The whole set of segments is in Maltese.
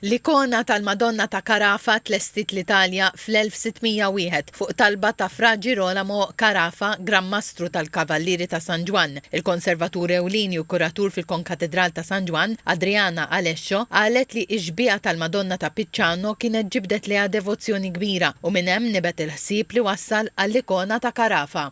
L-ikona tal-Madonna ta' Carafa tlestiet l-Italja fl-1601 fuq talba ta' Fra Girolamo Carafa, Gran Mastru tal-Kavallieri ta' San Ġwann. Il-konservatur ewlieni u kuratur fil-Konkatedral ta' San Ġwann, Adriana Alescio, qalet li x-xbieha tal-Madonna ta' Picciano kienet ġibdet lejha devozzjoni kbira u minn hemm nibet il-ħsieb li wassal għall-ikona ta' Carafa.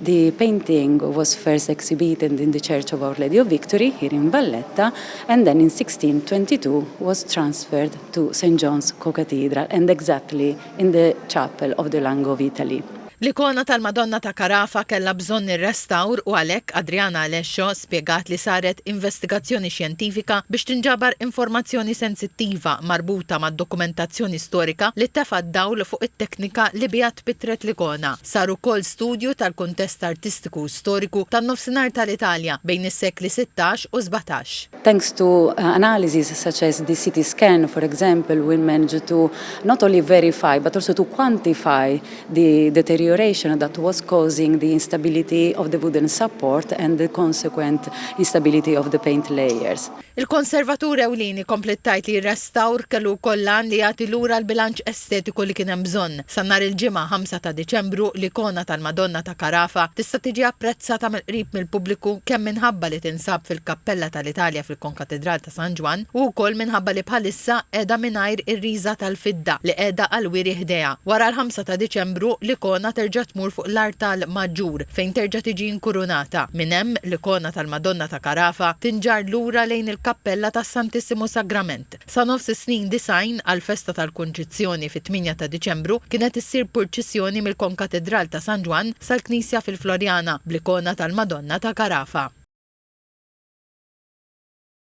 The painting was first exhibited in the Church of Our Lady of Victory here in Valletta and then in 1622 was transferred to St John's Co-Cathedral and exactly in the chapel of the Lang of Italy. L-ikona tal-Madonna ta' Carafa kellha bżonn ir-restawr u għalhekk Adriana Alescio spjegat li saret investigazzjoni xjentifika biex tinġabar informazzjoni sensittiva marbuta mad-dokumentazzjoni storika li tefgħet dawl fuq it-teknika li biha tpittret l-ikona. Sar ukoll studju tal-kuntest artistiku u storiku tan-Nofsinhar tal-Italja bejn is-sekli sittax u sbatax. Thanks to analyses such as the CT scan, for example, we managed to not only verify but also to quantify the deterioration that was causing the instability of the wooden support and the consequent instability of the paint layers. Il-konservatur ewlieni kompliet tgħid li r-restawr kellu wkoll l-għan li jagħti lura l-bilanċ estetiku li kien hemm bżonn. Sa nhar il-Ġimgħa 5 ta' Diċembru, l-ikona tal-Madonna ta' Carafa tista' tiġi apprezzata mill-qrib mill-pubbliku kemm minħabba li tinsab fil-Kappella tal-Italja fil-Konkatidral ta' San Ġwann u wkoll minħabba li bħalissa qiegħda mingħajr ir-riża tal-fidda li qiegħda għall-wiri ħdejha. Wara l-5 ta' Diċembru, l-ikona terġa' tmur fuq l-artal maġġur fejn terġa' tiġi inkurunata. Minn hemm, l-ikona tal-Madonna ta' Carafa tinġarr lura lejn il-kappella tas-Santissimu Sagrament. Sa nofs is-snin 90, għall-festa tal-Kunċizzjoni fit-tmienja ta' Diċembru, kienet issir purċissjoni mill-konkatedral ta' San Ġwann sal-knisja fil-Floriana bl-ikona tal-Madonna ta' Carafa.